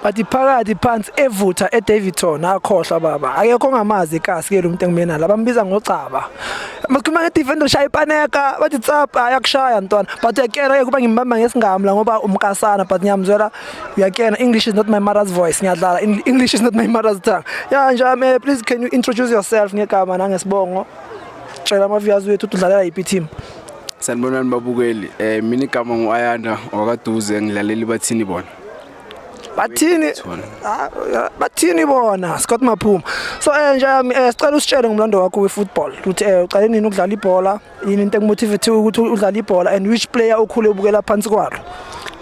bathi phakathi phansi evutha eDavidson akhohlwa baba akekho ongamazi ikasi ke lo muntu engimena la bambiza ngocaba makhuluma ngedefender ushaya ipaneka bathi tsapa ayakushaya ntwana but uyakena ke kuba ngimbamba ngesingami la ngoba umkasana but ngiyamzwela uyakena english is not my mother's voice ngiyadlala english is not my mother's tongue ya njame please can you introduce yourself ngegama nangesibongo tshela ama-viewers wethu udlalela yiphi team sanibonani babukeli um mina igama ngu-ayanda wakaduze ngilaleli bathini bona bathini ah, bathini bona Scott Maphuma so eh nje yami eh, sicela usitshele ngomlando wakho wefootball ukuthi eh uqale nini ukudlala ibhola yini into ekumotivate ukuthi udlale ibhola and which player ukhule ubukela phansi kwalo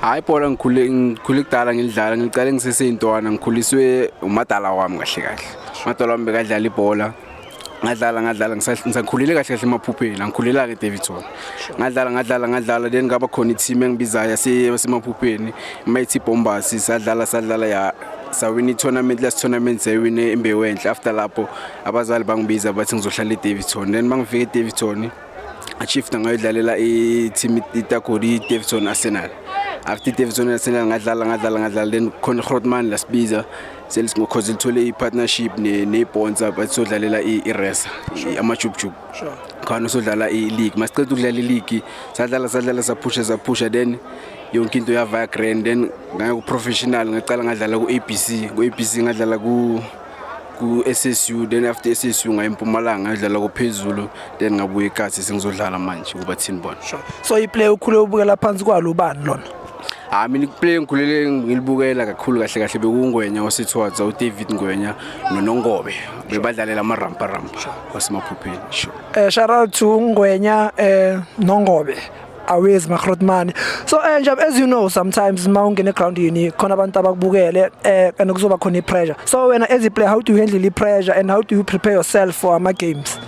hayi ibhola ngikhule ngikhule kudala ngilidlala ngiqale ngiseseyintwana ngikhuliswe umadala wami kahle kahle umadala wami bekadlala ibhola ngadlala ngadlala ngisakhulele kahle kahle emaphupheni angikhulelanga ke Davidson ngadlala ngadlala ngadlala then ngaba khona i-team engibizayo yasemaphupheni mayithi Bombas sadlala sadlala ya sawina i-tournament last tournament sayiwine imbewu enhle after lapho abazali bangibiza bathi ngizohlala e-Davidson then mangifika e-Davidson achifta ngayodlalela i-team itagodi i-Davidson Arsenal after i-Davidson Arsenal ngadlala ngadlala ngadlala then khona i-Grootman lasibiza Sales ngokhoze lithole i-partnership ne-bonds apha sodlalela i-resa amajubjubu khona sodlala i-league masiqeda ukudlala i-league sadlala sadlala saphusha saphusha then yonke into yavaya grand then ngaya ku-professional ngaqala ngadlala ku-abc ku-abc ngadlala ku ku-SSU then after SSU ngaye empumalanga ngayodlala kophezulu then ngabuye ekathi sengizodlala manje kuba thini bona so iplay ukhule ubukela phansi kwalo ubani lona hayi mina iplay engikhulele ngilibukela kakhulu kahle kahle bekungwenya osithwaza udavid ngwenya nonongobe bebadlalela amarampa rampa wasemaphupheni sure eh shout out to ngwenya eh nongobe awezi magrotmani so eh nje as you know sometimes uma ungena eground yini khona abantu abakubukele eh and kuzoba khona ipressure so wena as a player how do you handle ipressure and how do you prepare yourself for ama games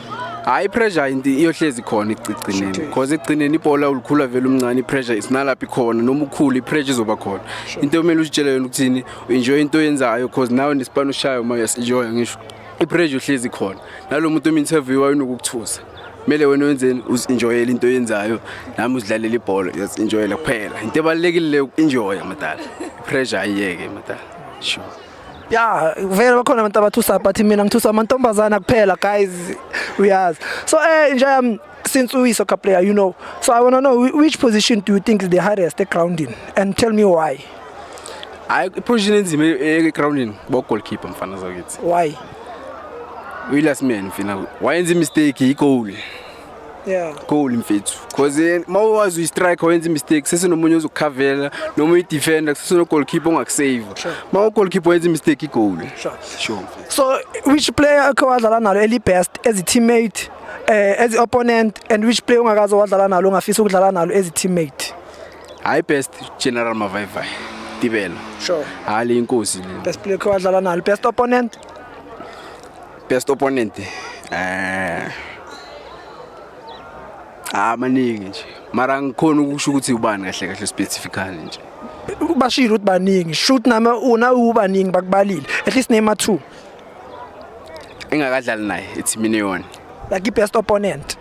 hayi pressure into iyohlezi khona ekugcineni because ekugcineni ibhola ulikhula vele umncane ipressure isinalaphi khona noma ukhulu ipressure izoba khona into omele uzitshele yona ukuthini enjoy into oyenzayo because nawe nesipani ushayo uma uyasenjoy ngisho ipressure uhlezi khona nalomuntu ominterview wayinokukuthusa kumele wena wenzeni uzinjoyela into oyenzayo nami uzidlalela ibhola uyazinjoyela kuphela into ebalekile le ukunjoya madala pressure ayiyeke madala sure ya vele bakhona abantu abathusa but mina ngithusa amantombazana kuphela guys uyazi so eh nje yami since we soccer player you know so i want to know whi- which position do you think is the hardest egroundini and tell me why hayi iposition enzima egroundini bogoalkeeper mfana zakithi why uyi-last man mfina wayenza imistake yigoal yeah goal mfethu because eh, uma wazi uyistrike wenza imistake sesinomunye ozokukhavela noma uyidefender kusesino goalkeeper ongakusave uma ugoalkeeper wenza imistake igoal sure sure so which player akhe wadlala nalo eli best as a teammate eh as opponent and which player ungakaze wadlala nalo ongafisa ukudlala nalo as a teammate hayi best general mavayivay tibela sure hayi le inkosi le best player akhe wadlala nalo best opponent best opponent eh ah maningi nje mara ngikhona ukusho ukuthi ubani kahle kahle specifically nje bashilo ukuthi baningi shoot nama una ubaningi bakubalile at least name 2 engakadlali naye ethimini yona like i best opponent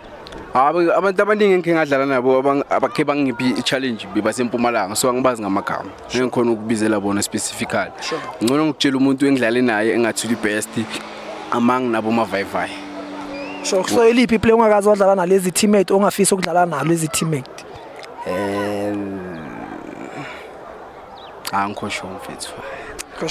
Hayi abantu abaningi engikhe ngadlala nabo abakhe bangiphi i-challenge basempumalanga so angibazi ngamagama ngeke ngikhona ukubizela bona specifically ngcono ngikutshela umuntu engidlale naye engathi uli-best among nabo mavayivayi so so eliphi iplay ongakazi wadlala nalezi teammate ongafisa ukudlala nalo ezi teammate um cha ngikho sho mfethu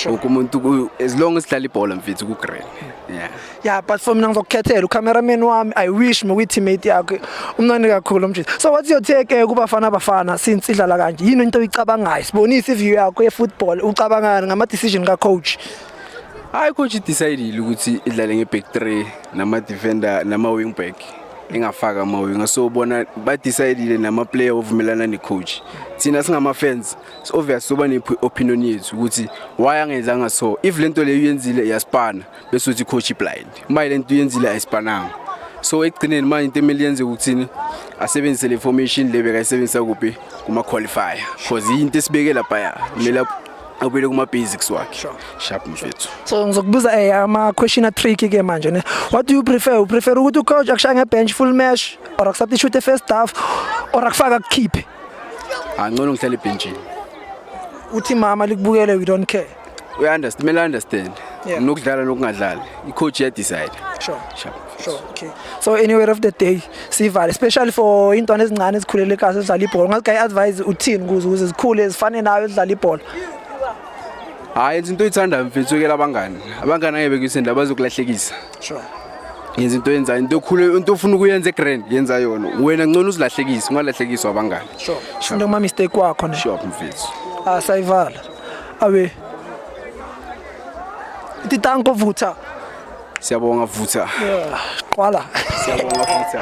Loku umuntu as long as dlala ibhola mfethu ku green. Yeah. Yeah, but for mina ngizokukhethela ucameraman wami. I wish me with teammate yakhe. Umnandi kakhulu umjita. So what's your take eh, kubafana abafana since idlala kanje? Yini into oyicabangayo? Sibonisa iview yakho ye football. Ucabangani ngama decision ka coach? Hayi coach decidile ukuthi idlale nge back 3 nama defender nama wing back. engafaka amawi ngasowubona badecidile namaplayer ovumelana necoach thina singama-fans obvious soba ne-opinion yethu ukuthi why angenzanga so if le nto leyo uyenzile iyaspana bese uthi coach blind uma le nto uyenzile ayispananga so ekugcineni manje into emele yenze ukuthini asebenzise le formation le bekayisebenzisa kuphi kuma-qualifier cause yinto esibeke laphaya kumele awubile kuma basics wakhe sure. sharp mfethu so ngizokubuza eh ama question a trick ke manje ne what do you prefer u prefer ukuthi ucoach akushaya nge bench full match or akusubstitute first half or akufaka kukhiphe angcono ngihlale ebhenjini uthi mama likubukele we don't care uya understand mele understand yeah. nokudlala nokungadlali i coach ya decide sure sure Sure, okay. So anywhere of the day sivale especially for intwana ezincane ezikhulele kahle ezidlala ibhola. Ngathi advise uthini kuze ukuze zikhule zifane nayo ezidlala ibhola. Hayi yenza into oyithandayo mfethu yekela abangani. Abangani angeke bekuyisenda bazokulahlekisa. Sure. Yenza into yenza into okhule into ofuna ukuyenza egrand yenza yona. Wena ngcono uzilahlekise ungalahlekiswa abangani. Sure. Shunda kuma mistake wakho ne. Sure mfethu. Ah sayivala. Awe. Titanko vutha. Siyabonga vutha. Qwala. Siyabonga vutha.